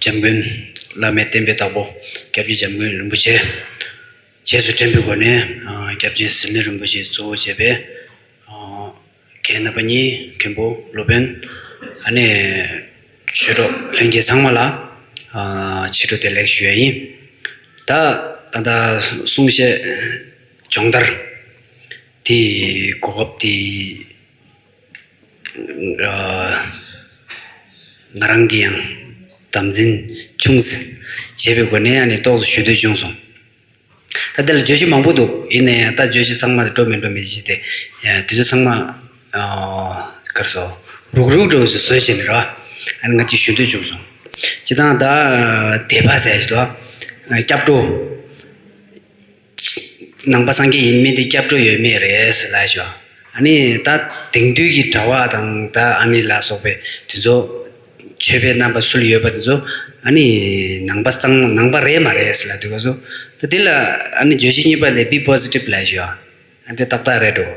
འཇམ་མགོན་བླ་མའི་བསྟན་པའི་བདག་པོ་སྐྱབས་རྗེ་འཇམ་མགོན་རིན་པོ་ཆེ། རྗེས་སུ་དྲན་པའི་སྒོ་ནས་སྐྱབས་རྗེ་ཟི་ལིང་རིན་པོ་ཆེ་གཙོ་བོ་བྱས་པའི་མཁན་རྣམ་པ་གཉིས་མཁན་པོ་སློབ་དཔོན་ཨ་ནེ། ཆོས་གྲོགས་ལྷན་རྒྱས་ཚང་མ་ལ་ཕྱི་དྲོ་བདེ་ལེགས་ཞུ་ཡ་ཡིན། ད་ད་ལྟ་གསུང་བཤད་སྦྱོང་བརྡར་དེའི་གོ་སྐབས་དེ། ང་རང་གིས་ཡང་དམ་འཛིན་ཆུང་ཟད་བྱེད་པའི་སྒོ་ནས་ཡང་ནས་རྟོག་བཟོ་ཞུ་འདོད་བྱུང་སོང། ད་འདི་ལ་བརྗོད་གཞི་མང་པོ་འདུག་ཡིན་ནའི་ད་བརྗོད་གཞི་ཚང་མ་འགྲོ་མི་འགྲོ་མི་ཤེས་ཏེ། དེ་ཚོ་ཚང་མ་ཀར་སོ་རུག་རུག་འགྲོ་བཞིན་བཟོད་བཞིན་རེད་བ། ང་གཅིག་ཞུ་འདོད་བྱུང་སོང། བྱེད་སྟངས་ད་དེ་པ་ཟེར་བྱེད་དོ། སྐྱབས་འགྲོ། ནང་པ་སངས་རྒྱས་ཡིན་མིན་དེ་སྐྱབས་འགྲོ་ཡོད་མེད་རེད། ད་དེང་དུས་ཀྱི་གྲྭ་བ་དང་ད་ཨ་ནེ་ལ་སོགས་པའི་དེ་ཚོ་ཆོས་པའི་རྣམ་པ་ཚུལ་ཡོད་པ་དེ་ཚོ་ནང་པ་གཙང་མ་ནང་པ་རེད་མ་རེད་ཟེར་ལ་དུས་སྐབས་སུ་དེ་ལ་བརྗོད་གཞི་གཉིས་པ་ལས་བི་པོ་ཟི་ཏིབ་ལ་ཞུ་བ་དེ་ཏག་ཏག་རེད་འགྲོ།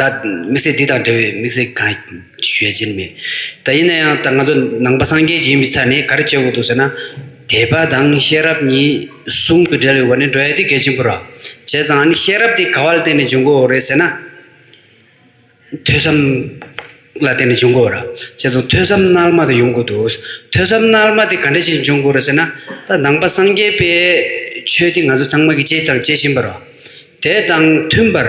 ད་དམིགས་བསལ་འདི་དང་འབྲེལ་བའི་དམིགས་བསལ་གང་ཡང་བརྗོད་ཀྱིན་མེད། ད་ཡིན་ན་ཡང་ད་ང་ཚོ་ནང་པ་སངས་རྒྱས་ཀྱི་ཡིན་པའི་ཆ་ནས་ག་རེ་བྱེད་དགོས་འདུག་ཟེར་ན། དད་པ་དང་ཤེས་རབ་གཉིས་ཟུང་དུ་སྦྲེལ་བའི་སྒོ་ནས་འགྲོ་ཡ་དེ་གལ་ཆེན་པོ་ར། བྱས་ཙང་ནི་ཤེས་རབ་དེ་ག་བ་ལ་བརྟེན་ནས་འབྱུང་དགོས་རེད་ཟེར་ན། ཐོས་བསམ་ལ་བརྟེན་ནས་འབྱུང་དགོས་ར། བྱས་ཙང་ཐོས་བསམ་རྣལ་མ་དེ་ཡོང་དགོས་འདུག་ཐོས་བསམ་རྣལ་མ་དེ་ག་འདྲ་ཞིག་འབྱུང་དགོས་ར་ཟེར་ན། ད་ནང་པ་སངས་རྒྱས་པའི་ཆོས་དེ་ང་ཚོ་ཚང་མ་གིས་སྤྱད་ཀྱང་སྤྱད་བཞིན་པ་ར། དེ་དང་མཐུན་པར།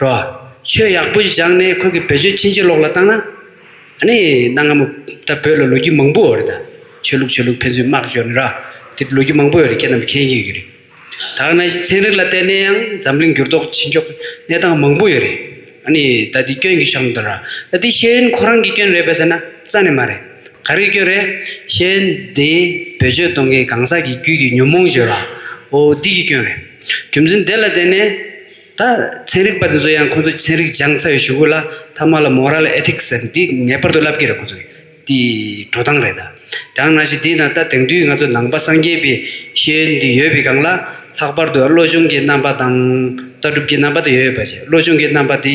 རོ། ཆོས་ཡག་པོ་བཞག་ནས་ཁོ་གི་བེད་སྤྱོད་ཕྱིན་ཅི་ལོག་ལ་བཏང་ན། ཨ་ནི་གནའ་སྔ་མོ་ད་བོད་ལ་ལོ་རྒྱུས་མང་པོ་འོ་རེད་ད། ཆོས་ལུགས་ཆོས་ལུགས་ཕན་ཚུན་དམག་སྐྱོར་ནི་ར། དེ་ལོ་རྒྱུས་མང་པོ་ཡོ་རེད་ཁྱེད་རྣམས་མཁྱེན་གི་རེད། ད་གནའ་ཤིས་ཚན་རིག་ལ་བལྟས་ནས་ཡང་འཛམ་གླིང་འགྱུར་ལྡོག་ཇི་མགྱོགས་གནས་སྟངས་མང་པོ་ཡོ་རེད། ཨ་ནི་ད་དེ་སྐྱོན་གི་ཤོག་འདུག་ར། ད་དེ་ཤེས་ཡོན་ཁོ་རང་གི་སྐྱོན་རེད་པ་ཟེར་ན་རྩ་ནས་མ་རེད། ག་རེ་ཁྱོད་རེད། གཞན་དེས་བེད་སྤྱོད་གཏོང་མཁན་གང་ཟག་གི་རྒྱུད་ཀྱི་ཉོན་མོངས་བརྗོད་ལ། ཨོ་འདི་ཀྱི་སྐྱོན་རེད། རྒྱུ་མཚན་དེ་ལ་བརྟེན་ནས། ད། ཚན་རིག་པ་དེ་ཚོ་ཡང་ཁོ་ཚོ་ཚན་རིག་སྦྱངས་ཚར་བའི་ཞུ་གུ་ལ་ཐ་མ་ལ Moral Ethics ཟེར་འདི་ངེས་པར་དུ་བསླབ་ཀྱི་རེད་ཁོ་ཚོ་གི་དེ་འགྲོ་སྟངས་རེད་ད། དང་ན་ཞིག་དེ་ན་ད་དེང་དུས་ང་ཚོ་ནང་པ་སངས་རྒྱས་པའི་ཤེས་ཡོན་ཡོད་པའི་སྒང་ལ། ལྷག་པར་དུ་བློ་ཆུང་གི་རྣམ་པ་དང། ལྟ་གྲུབ་ཀྱི་རྣམ་པ་དེ་ཡོད་པ་བྱས་བློ་ཆུང་གི་རྣམ་པ་དེ།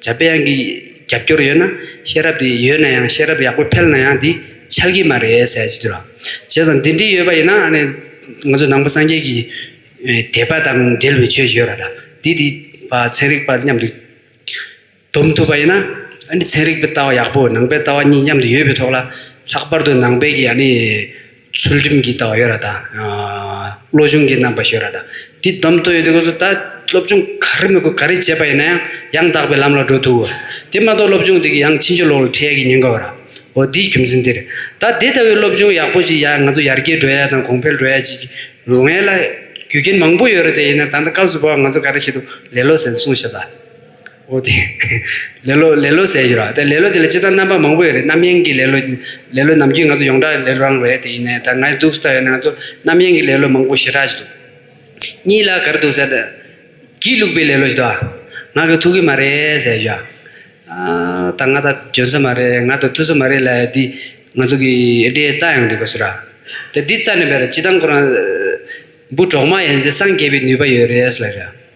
བྱ་བའི་དབྱངས་ཀྱི་རྒྱབ་སྐྱོར་ཡོད་ན་ཤེས་རབ་དེ་ཡོད་ན་ཡང་ཤེས་རབ་ཡག་པོ་འཕེལ་ན་ཡང་དེ་འཆལ་གྱི་མ་རེད་ཟེར་བྱེད་དུས་ལ། བྱས་ཙང་འདི་འདྲི་ཡོད་པ་ཡིན་ན་ང་ཚོ་ནང་པ་སངས་རྒྱས་ཀྱི་དད་པ་དང་འབྲེལ་བའི་ཆོས་ཞིག་ཡོད་ར་ད་དེ་དེ་ཚན་རིག་པ་མཉམ་དུ་བསྡོམས་ཐུབ་པ་ཡིན་ན་ཚན་རིག་པའི་ལྟ་བ་ཡག་པོ་ནང་པའི་ལྟ་བ་གཉིས་མཉམ་དུ་ཡོད་པའི་ཐོག་ལ་ལྷག་པར་དུ་ནང་པའི་གི་ཨ་ནི། ཚུལ་ཁྲིམས་ཀྱི་ལྟ་བ་ཡོད་ར་དང། བློ་ཆུང་གི་རྣམ་པ་ཞེས་ཡོད་ར་དང། འདི་བསྡོམས་ཐོ་ཡོད་དུས་ཁོ་ཚོ་ད་སློབ་སྦྱོང་ག་རེ་མི་དགོས་ག་རེ་བྱས་པ་ཡིན་ན་ཡང་ཡང་དག་པའི་ལམ་ལ་འགྲོ་ཐུབ། དེ་མ་གཏོགས་སློབ་སྦྱོང་འདི་གི་ཡང་ཕྱི་མཆོད་ལོག་ལ་ཁྲིད་ཡ་གི་ཉེན་ཁ་ཡོད་ར། འོ་འདིའི་རྒྱུ་མཚན་འདིར། ད་དེ་ལྟ་བུའི་སློབ་སྦྱོང་ཡག་པོ་ཞིག་ཡ་ང་ཚོ་ཡར་རྒྱས་འགྲོ་ཡ་དང་གོང་འཕེལ་འགྲོ་ཡ་ཅིག་ལོ་ངས་ལ་རྒྱུ་རྐྱེན་མང་པོ་ཡོད་ར་དེ་ཡིན་ན་ད་ལྟ་སྐབས་སུ་བབ་ང་ཚོ་ག་རེ་བྱེད་དུ་ལེ་ལོ་ཟེར་སོང་ཞེས་པ། ཨོ་དེ། ལེ་ལོ་ལེ་ལོ་ཟེར་གྱི་རོགས། དེ་ལེ་ལོ་དེ་ལ་ཅི་ལྟར་རྣམ་པ་མང་པོ་ཡོད་རེད་རྣམ་གཡེང་གི་ལེ་ལོ། ལེ་ལོ་ནམ་རྒྱུན་ང་ཚོ་ཡོངས་གྲགས་ལེ་ལོ་རང་རེད་དེ་ཡིན་ནའི་ད་ང་ཡི་འདུག་ས་ད་ཡོད་ན་ང་ཚོ་རྣམ་གཡེང་གི་ལེ་ལོ་མང་པོ་ཞེ་དྲག་ཅིག་འདུག། གཉིས་ལ་ག་རེ་འདུག་ཟེར་ན། སྒྱིད་བླུགས་པའི་ལེ་ལོ་ཞིག་འདུག་ཨ། ང་གི་ཐུག་གི་མ་རེད་ཟེར་གྱི། ད་ང་ད་འཇོན་ས་མ་རེད་ང་ད་ཐུག་ས་མ་རེད་ལ་འདི། ང་ཚོ་གི་ཨེ་འདྲའི་རྟགས་ཡང་འདུག་ག་ཟེར་རོགས། དེ་འདི་རྩ་ནས་བེད་རེད་ཅི་ལྟར་ཁོ་རང། འབུ་གྲོག་མ་ཡིན་ཚེ་སངས་རྒྱས་པའི་ནུས་པ་ཡོད་རེད་ཟེར་ལ།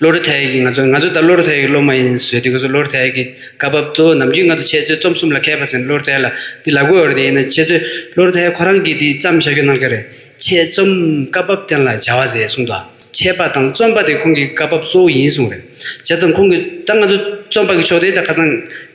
བློ་རུ་ཐལ་ཡག་གིས་ང་ཚོ་ང་ཚོ་ལྟར་བློ་རུ་ཐལ་ཡག་གི་སློབ་མ་ཡིན་ཟེར་དུས་ཁོ་ཚོས་བློ་རུ་ཐལ་ཡག་གི་སྐབས་བབ་གཙོ་བོ་ནམ་རྒྱུན་ང་ཚོ་འཆད་རྩོད་རྩོམ་གསུམ་ལ་མཁས་པ་ཟེར་ནས་བློ་རུ་ཐལ་ལ་འདི་ལག་འགུལ་བ་རེད་ཡིན་ན་འཆད་རྩོད་བློ་རུ་ཐལ་ཡག་ཁོ་རང་གིས་འདི་བརྩམས་བཞག་རྒྱུ་གནང་གི་རེད། འཆད་རྩོམ་སྐབས་བབ་བསྟན་ལ་བྱ་བ་ཟེར་གསུངས་འདུག་འཆད་པ་དང་རྩོམ་པ་དེ་ཁོང་གི་སྐབས་བབ་གཙོ་བོ་ཡིན་གསུངས་རེད། བྱས་ཙང་ཁོང་གིས་ད་ང་ཚོ་རྩོམ་པ་གི་ཕྱོགས་དེ་ད་ཁ་ཚང།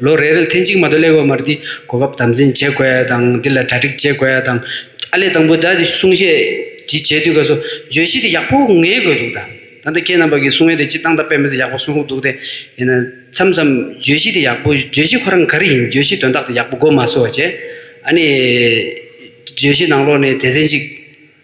ལོ་རེར་ཐེངས་གཅིག་མ་གཏོགས་ཀླད་གོར་མར་འདི་གོ་སྐབས་དམ་འཛིན་བྱེད་དགོས་ཡ་དང་འདི་ལ་གྲ་སྒྲིག་བྱེད་དགོས་ཡ་དང། ཨ་ལས་དང་པོ་ད་དེ་གསུང་བཤད་ཇི་བྱེད་དུས་ག་སོ་བརྗོད་གཞི་དེ་ཡག་པོ་ངེས་དགོས་འདུག་ད། ད་ལྟ་ཁྱེད་རྣམ་པ་གི་གསུང་ཡོན་དེ་སྤྱིར་བཏང་ད་དཔེ་མི་སྲིད་ཡག་པོ་གསུང་རོགས་འདུག་དེ་ཡིན་ན། མཚམས་མཚམས་བརྗོད་གཞི་དེ་ཡག་པོ་བརྗོད་གཞི་ཁོ་རང་ག་རེ་ཡིན་བརྗོད་གཞི་དོན་དག་དེ་ཡག་པོ་གོ་མ་སོ་བ་བྱས། ཨ་ནི། བརྗོད་གཞི་ནང་ལོགས་ནས་དེ་ཟིན་ཅིག།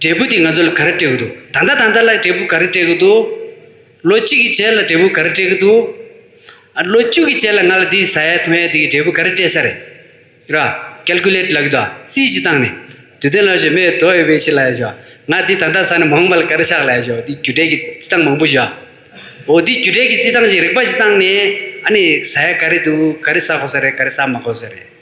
འབྲས་བུ་དེ་ང་ཚོ་ལ་ག་རེ་སྤྲད་གི་འདུག་ད་ལྟ་ད་ལྟ་ལ་འབྲས་བུ་ག་རེ་སྤྲད་གི་འདུག་ལོ་གཅིག་གི་རྗེས་ལ་འབྲས་བུ་ག་རེ་སྤྲད་གི་འདུག་ལོ་བཅུ་གི་རྗེས་ལ་ང་ལ་འདི་ཟ་ཡ་འཐུང་ཡ་འདི་གི་འབྲས་བུ་ག་རེ་སྤྲད་ས་རེད་ར། Calculate ལ་གི་འདུག་རྩིས་ཀྱིས་བཏང་ནས། དུས་སྟོན་ལ་ཞེས་མོས་དོགས་ཡོད་པའི་ཕྱིར་ལ་ཡ་ཞོ། ང་འདི་ད་ལྟ་ཟ་ནས་མང་པ་ལ་ག་རེ་བཞག་ལ་ཡ་ཞོ་འདི་རྒྱུ་འབྲས་ཀྱི་རྩིས་སྟངས་མང་པོ་ཞིག་ཡ། འོ་འདི་རྒྱུ་འབྲས་ཀྱི་རྩིས་སྟངས་ཞིག་རིག་པ་ཞིག་བཏང་ནས་ཨ་ནི་ཟ་ཡ་ག་རེ་འདུག་ག་རེ་ཟ་དགོས་ས་རེད་ག་རེ་ཟ་མ་དགོས་ས་རེད།